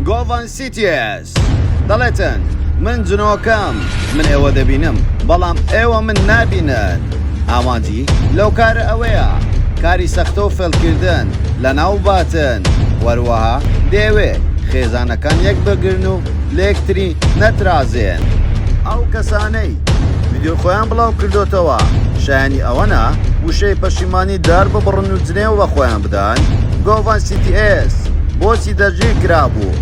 گۆڤەن سیتیێس دەڵێتن من جنۆکەم من ئێوە دەبینم بەڵام ئێوە من نابینن ئامانجی لەو کارە ئەوەیە کاری سەختە و فێڵکردن لە ناو باتن وەروەها دەیەوێ خێزانەکان یەک بگرن و لەکتری نەترازێن ئەو کەسانەی ڤیدیۆی خۆیان بڵاو کردوتەوە شایانی ئەوەنا وشەی پەشیمانی دار ببڕن و جنێو بە خۆیان بدەن گۆڤان CTS بۆچی دەرگیر کرابوو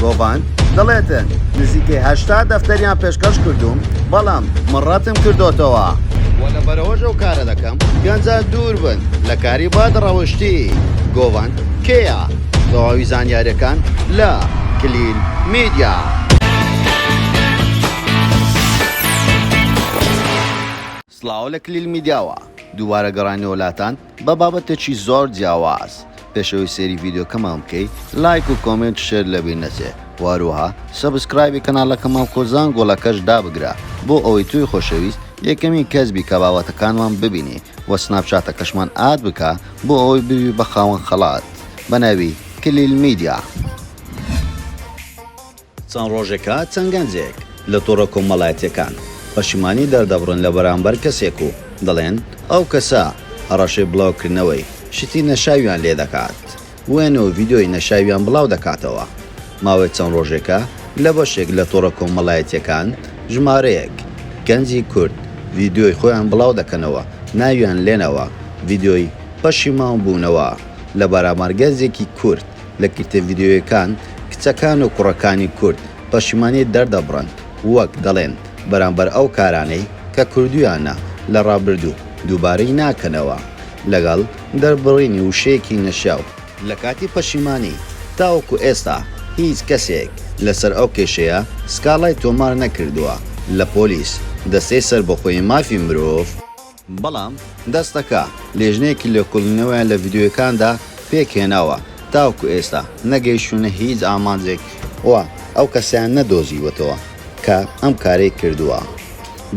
گۆڤان دەڵێتن نزیکەی هەشتا دەفتەریان پێشکەش کردوم بەڵام مڕەتم کردوتەوە وە لە بەرەوەژە و کارە دەکەم گەنجان دوور بن لە کاری باد ڕەوشتی گۆڤان کێە تەواوی زانیارەکان لە کلیل میدیا. سڵاو لە کلیل میدیاوە دووبارە گەڕاینەوە لاتان بە بابەتێکی زۆر جیاواز پێش ئەوەی سەیری ڤیدیۆکەمان بکەی لایک و کۆمێنت شێر لەبیر نەچێ و هەروەها سەبسکرایبی کەناڵەکەمان کۆ زانگۆڵەکەش دابگرە بۆ ئەوەی تۆی خۆشەویست یەکەمین کەس بی کە بابەتەکانمان ببینی و سناپچاتەکەشمان ئاد بکە بۆ ئەوەی ببی بە خاوەن خەڵات بە ناوی کلیل میدیا. چەند ڕۆژێکە چەند گەنجێک لە تۆڕە کۆمەڵایەتییەکان پەشیمانی دەردەبڕن لە بەرامبەر کەسێک و دەڵێن ئەو کەسە هەڕەشەی بڵاوکردنەوەی شتی نەشاویان لێ دەکات و وێنە و ڤیدیۆی نەشاویان بڵاو دەکاتەوە. ماوەی چەند ڕۆژێکە لە بەشێک لە تۆڕە کۆمەڵایەتییەکان ژمارەیەک گەنجی کورد ڤیدیۆی خۆیان بڵاو دەکەنەوە ناویان لێنەوە ڤیدیۆی پەشیمانبوونەوە لە بەرامبەر گەنجێکی کورد. لە گرتە ڤیدیۆیەکان کچەکان و کوڕەکانی کورد پەشیمانی دەردەبڕن وەک دەڵێن بەرامبەر ئەو کارانەی کە کردوویانە لە ڕابردوو دووبارەی ناکەنەوە لەگەڵ دەربڕینی وشەیەکی نەشیاو، لە کاتی پەشیمانی، تاوەکو ئێستا هیچ کەسێک لەسەر ئەو کێشەیە سکاڵای تۆمار نەکردووە لە پۆلیس، دەستەی سەربەخۆی مافی مرۆڤ، بەڵام دەستەکە لێژنەیەکی لێکۆڵینەوەیان لە ڤیدیۆیەکاندا پێک هێناوە تاوەکو ئێستا نەگەیشتوونە هیچ ئامانجێک و ئەو کەسەیان نەدۆزیوەتەوە کە ئەم کارەی کردووە.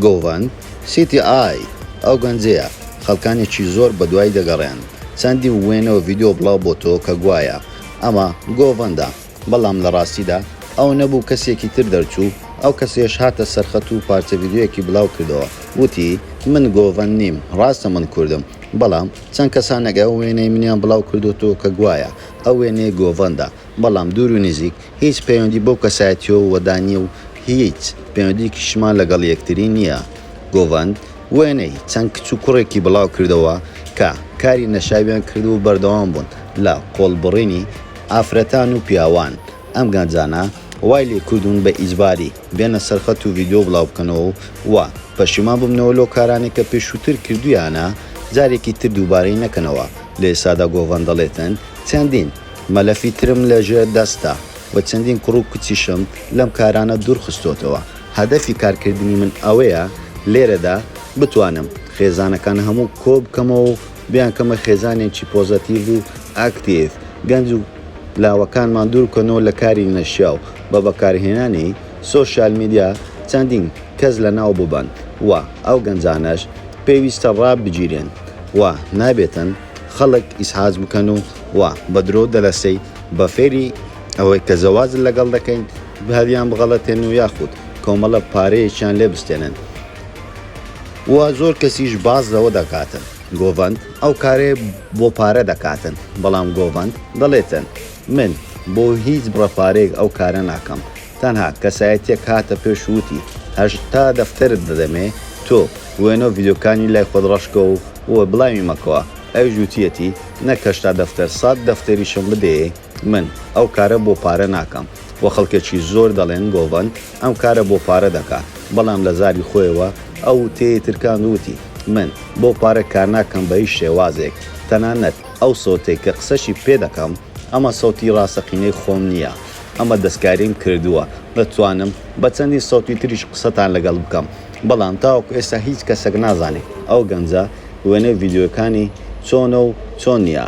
گۆڤەن سیتی ئای ئەو گەنجەیە خەڵکانێکی زۆر بەدوای دەگەڕێن، چەندین وێنە و ڤیدیۆ بڵاو بۆتەوە کە گوایە ئەمە گۆڤەندە، بەڵام لە ڕاستیدا ئەو نەبوو کەسێکی تر دەرچوو، ئەو کەسەیش هاتە سەرخەت و پارچە ڤیدیۆیەکی بلاو کردەوە وتی من گۆڤەند نیم ڕاستە من کوردم بەڵام چەند کەسانێک ئەو وێنەی منیان بلاو کردۆتەوە کە گوایە ئەو وێنەیە گۆڤەندە بەڵام دوور و نزیک هیچ پەیوەندی بەو کەسایەتیە وەدا نیە و هیچ پەیوەندیەکیشمان لەگەڵ یەکتری نیە گۆڤەند وێنەی چەند کچ و کوڕێکی بلاو کردەوە کە کاری نەشاویان کردوە و بەردەوام بوون لە قۆڵبڕینی ئافرەتان و پیاوان ئەم گەنجانە وای لێ کردوون بە ئیجباری بێنە سەر خەت و ڤیدیۆ بڵاو بکەنەوە و پەشیمان ببنەوە لەو کارانەی کە پێشووتر کردوویانە جارێکی تر دووبارەی نەکەنەوە لە ئێستادا گۆڤەند دەڵێتن چەندین مەلەفی ترم لە ژێر دەستە و چەندین کوڕ و کچیشم لەم کارانە دوور خستۆتەوە هەدەفی کار کردنی من ئەوەیە لێرەدا بتوانم خێزانەکان هەموو کۆ بکەمەوە و بیانکەمە خێزانێکی پۆزەتیڤ و ئاکتیڤ، گەنج و لاوەکانمان دووربکەنەوە لە کاری نەشیاو، بە بەکارهێنانی سۆشیال میدیا چەندین کەس لەناو ببەن و ئەو گەنجانەش پێویستە ڕابگیرێن و نابێتن خەڵک ئیزعاج بکەن و بە درۆ و دەلەسەی بە فێری ئەوەی کە زەواج لەگەڵ دەکەین هەلیانبغەڵەتێن و یاخود کۆمەڵە پارەیەکیان لێ بستێنن. و زۆر کەسیش باس لەوە دەکاتن گۆڤەند ئەو کارەیە بۆ پارە دەکاتن بەڵام گۆڤەند دەڵێتن من بۆ هیچ بڕە پارەیەک ئەو کارە ناکەم تەنها کەسایەتیەک هاتە پێش وتی هەشتا دەفتەرت دەدەمێ تۆ وێنەو ڤیدیۆکانی لای خۆت ڕەشکە و بڵاوی مەکەوە ئەویش وتیەتی نەک هەشتا دەفتەر سەد دەفتەریشم بدەیێ من ئەو کارە بۆ پارە ناکەم و خەڵکێکی زۆر دەڵێن گۆڤەن ئەم کارە بۆ پارە دەکات، بەڵام لە زاری خۆیەوە ئەو وتەیەی ترکاند و وتی، من بۆ پارە کارناکەم بە هیچ شێوازێک، تەنانەت ئەو سەوتەی کە قسەشی پێ دەکەم، ئەمە سەوتی ڕاستەقینەی خۆم نییە، ئەمە دەستکاریم کردووە، دەتوانم بە چەندین سەوتی تریش قسەتان لەگەڵ بکەم، بەڵام تاوەکو ئێستا هیچ کەسێک نازانێت ئەو گەنجە وێنەی ڤیدیۆیەکانی چۆنە و چۆن نییە.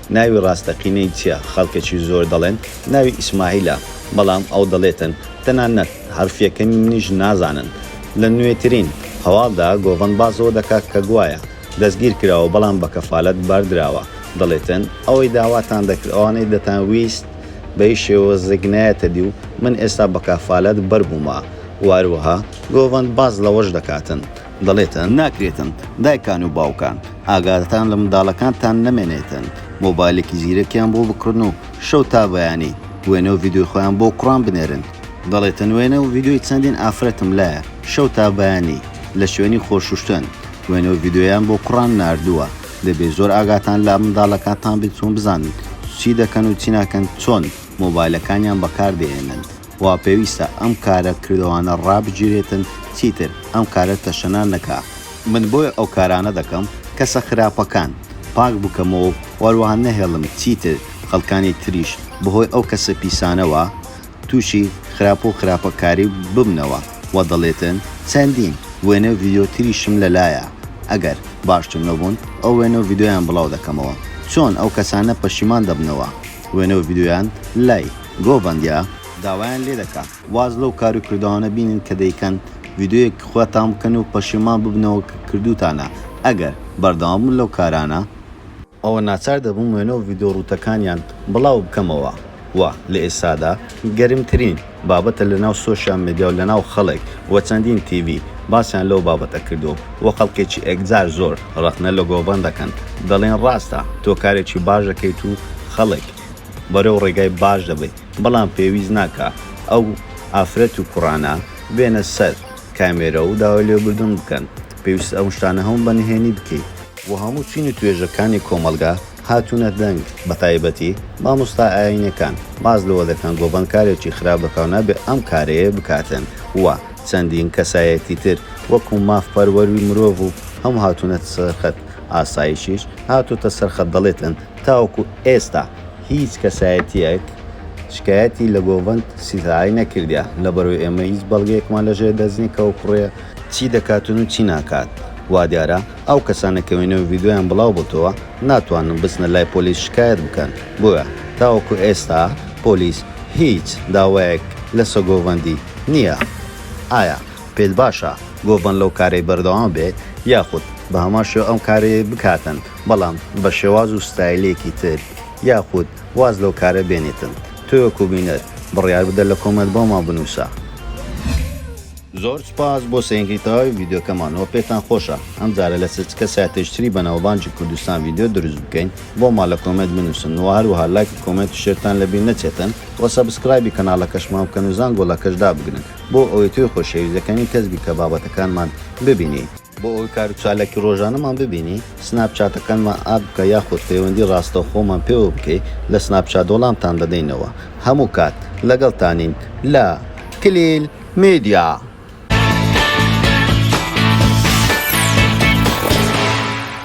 ناوی ڕاستەقینەی چیە خەڵکەکی زۆر دەڵێن ناوی ئیسماعیلە بەڵام ئەو دەڵێتن تەنانەت حەرفیەکەنی منیش نازانن لە نوێترین هەواڵدا گۆڤەند باس ەوە دەکات کە گوایە دەستگیر کراوە بەڵام بە کەفالەت بەردراوە دەڵێتن ئەوەی داواتان دەکرد ئەوانەی دەتان ویست بەهیچ شێوەزێک نایەتەدی و من ئێستا بەکافالەت بەربوومە وەهەروەها گۆڤەند باس لەوەش دەکاتن دەڵێتن ناکرێتن دایکان و باوکان ئاگاتان لە منداڵەکانتان نەمێنێتن مۆبایلێکی زیرەکیان بۆ بکڕن و شەو تا بەیانی وێنە و ڤیدیۆی خۆیان بۆ کوڕان بنێرن، دەڵێتن وێنە و ڤیدیۆی چەندین ئافرەتم لایە شەو تا بەیانی لە شوێنی خۆشوشتن وێنە و ڤیدیۆیان بۆ کوڕان ناردووە، دەبێ زۆر ئاگاتان لە منداڵەکانتان بێت و بزانن چی دەکەن و چی ناکەن چۆن مۆبایلەکانیان بەکاردەهێنن. وا پێویستە ئەم کارە کردوانە ڕابگیرێتن چیتر ئەم کارە تەشەنا نەکا. من بۆیە ئەو کارانە دەکەم کەسە خراپەکان پاک بکەمەوەو وەروەها نەهێڵم چیتر خەڵکانی تریش بەهۆی ئەو کەسە پیسانەوە توشی خراپو خراپە کاری ببنەوە وە دەڵێتن چەندین وێنەو ڤیدیۆ تریشم لەلایە ئەگەر باشتر نەبون ئەو وێنەو ڤیدیۆیان بڵاو دەکەمەوە چۆن ئەو کەسانە پەشیمان دەبنەوە وێنەو ڤیدیۆیان لای گۆڤەندیا داوایان لێ دەکا واز لەو کارو کردەوانە بینن کە دەیکەن ڤیدیۆیەک خوتان بکەن و پەشیمان ببنەوە کە کردوتانە ئەگەر بەردەوام بن لەو کارانە، ئەوە ناچار دەبم وێنە و ڤیدیۆ رووتەکانیان بڵاو بکەمەوە و لە ئێستادا گەرمترین بابەتە لە ناو سۆشیال مێدیا و لە ناو خەڵک و چەندین تیڤی باسیان لەو بابەتە کردوە و خەڵکێکی ئێکجار زۆر رەخنە لە گۆڤەند دەکەن دەڵێن راستە تۆ کارێکی باش دەکەیت و خەڵک بەرەو ڕێگای باش دەبەی بەڵام پێویست ناکا ئەو ئافرەت و کوڕانە بێنە سەر کامێرە و داوای لێبوردن بکەن پێویستە ئەو شتانە هەموو بە نهێنی بکەی. و هەموو چین و توێژە کانی کۆمەڵگا هاتونە دەنگ بە تایبەتی مامۆستا ئاینەکان باس لەوە دەکەن گۆڤەند کارێکی خراپ دەکا و نابێ ئەم کارەیە بکاتن و چەندین کەسایەتی تر وەکو ماف پەروەروی مرۆڤ و هەموو هاتونەتە سەر خەت ئاسایشیش هاتۆتە سەر خەت دەڵێتن تاوەکو ئێستا هیچ کەسایەتییەک شکایەتی لە گۆڤەند سیتارەی نەکردیە، لەبەرئەوەی ئێمە هیچ بەڵگەیەکمان لە ژێر دەست نیە کە ئەو کوڕە، چی دەکاتن و چی ناکات، وادیارە ئەو کەسانە کە وێنە و ڤیدیۆیان بڵاو بۆتەوە ناتوانن بچنە لای پۆلیس شکایەت بکەن، بۆیە تاوەکو ئێستا پۆلیس هیچ داوایەک لەسە گۆڤەندی نیە. ئایا پێت باشە گۆڤەند لەو کارەی بەردەوام بێت یاخود بە هەمان شێوە ئەم کارەی بکاتن؟ بەڵام بە شێواز و ستایلێکی تر یاخود واز لەو کارە بێنیتن تۆ وەکو بینەر بڕیار بدە لە کۆمێنت بۆمان بنوسە. زۆر سوپاس بۆ سەیندی تەواوی ڤیدیۆکەمان وە پێتان خۆشە ئەم جارە لە سچکە ساتێژ تری بەناوبانگی کوردستان ڤیدیۆ دروست بکەین بۆمان لە کۆمێنت بنوسن وە هەروەها لایک و کۆمێنت و شێرتان لە بیر نەچێتن وە سەبسکرایبی کەناڵەکەشمان بکەن و زانگۆڵەکەش دابگرن بۆ ئەوەی تۆی خۆشەویست یەکەمین کەس بی کە بابەتەکانمان ببینی. بۆ ئەوەی کار و چالاکی ڕۆژانەمان ببینی سناپ چاتەکانمان ئاد بکە یاخود پەیوەندی ڕاستەوخۆمان پێوە بکەی لە سناپ چات وەڵامتان دەدەینەوە هەموو کات لەگەڵتانین لە کلیل میدیا.